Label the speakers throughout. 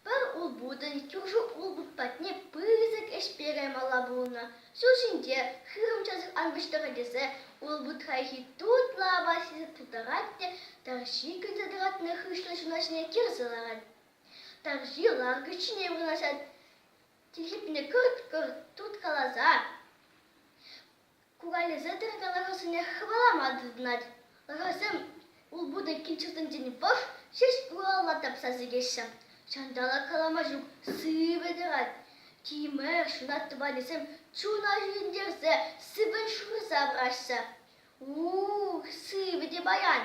Speaker 1: Пӗр улпутӑн кӳрши улпут патне пысӑк ӗҫ перемалла пулнӑ. Ҫул ҫинче хырӑм часах ан пуҫтӑр тесе улпут хайхи тутлӑ апат ҫисе тутарать те тарҫи кӗрсе тӑратнӑ хыҫлӑ ҫуна ҫине кӗрсе ларать. Тарҫи ланкӑч ҫине вырнаҫать, тихипне кӑрт-кӑрт турткаласа Кукалесе тӑракан ӑрусене хӑвалама тытӑнать. Ӑрусем улпутӑ килчӗртинчен вӑх ҫеҫ урамла тапса сикеҫҫӗ. Ҫанталӑк калама ҫук сивӗ тӑрать. Тимӗр, ҫунат тӑванӗсем чуна ҫӳрентерсе сӗвӗн шурса пыраҫҫӗ. Ух, сивӗ те паян,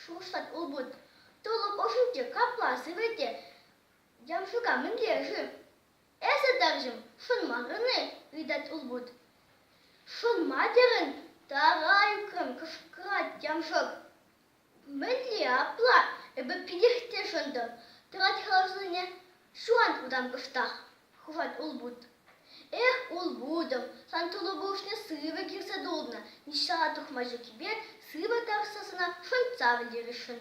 Speaker 1: шухӑшлать улпут. Тулӑм ӑшӗнче капла сивӗ те, ямшука мӗнле-ши? Эсӗ, тарҫӑм, шӑнмарӑн-и? ыйтать улпут. Шӑнма терӗн? тарайккӑн кӑшкӑрать Ямшӑк. Мӗнле апла? Эпӗ питех те шӑнтӑм. Тӑрать хӑрасене ҫуан утан кӑштах, хушать улпут. Эх, улпутӑм, сан тулӑ пуҫне сывӑ кӳрсе тулнӑ, ниҫта тухма ҫуккипе сывӑ тарса сана шӑнтса вӗлересшӗн.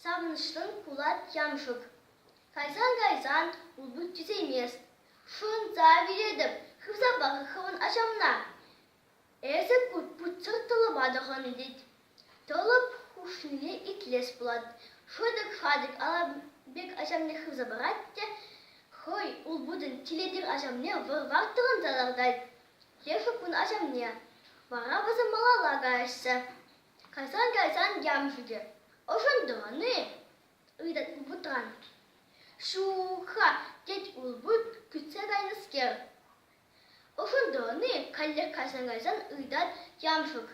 Speaker 1: Савӑнӑҫлӑн кулать Ямшӑк. Кайсан-кайсан улпут тӳсеймест. Шунса вилетӗп, хывсапа хӑвӑн ачамна. Эсӗ путсӗр тӑлӑпа тӑхӑннӑ тет. Тӑлӑп хушнине итлес пулать. Шӑтӑк-шатӑк ала пек ачамне хывса парать те хӑй улпутӑн тилетер ачамне вӑр-вар тӑхӑнса лартать. Лешӗ кун ачамне. Вара вӑсӑ малалла каҫса. Кайсан-кайсан ям ҫитӗ. Ӑшӑнтӑн-и? ыйтать вутранкин. Ҫук-ха, тет улпут кӳтсе кайнӑскер. Ӑшӑнтӑн-и? каллех кайсан-кайсан ыйтать ямшӑк.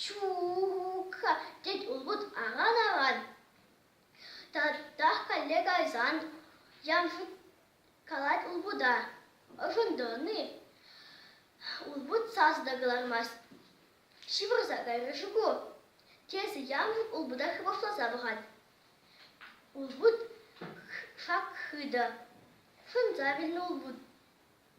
Speaker 1: Ҫук-ха, тет улпут аран-аран. Татах калле кайсан ямшӑк калать улпута. Ӑшӑнтӑн-и? Улпут сас та кӑлармасть. ҫывӑрса кайрӗ-ши ку? тесе Ямин улпута хӑвӑртласа пӑхать. Улпут шак хытӑ. Шӑнса вилнӗ улпут.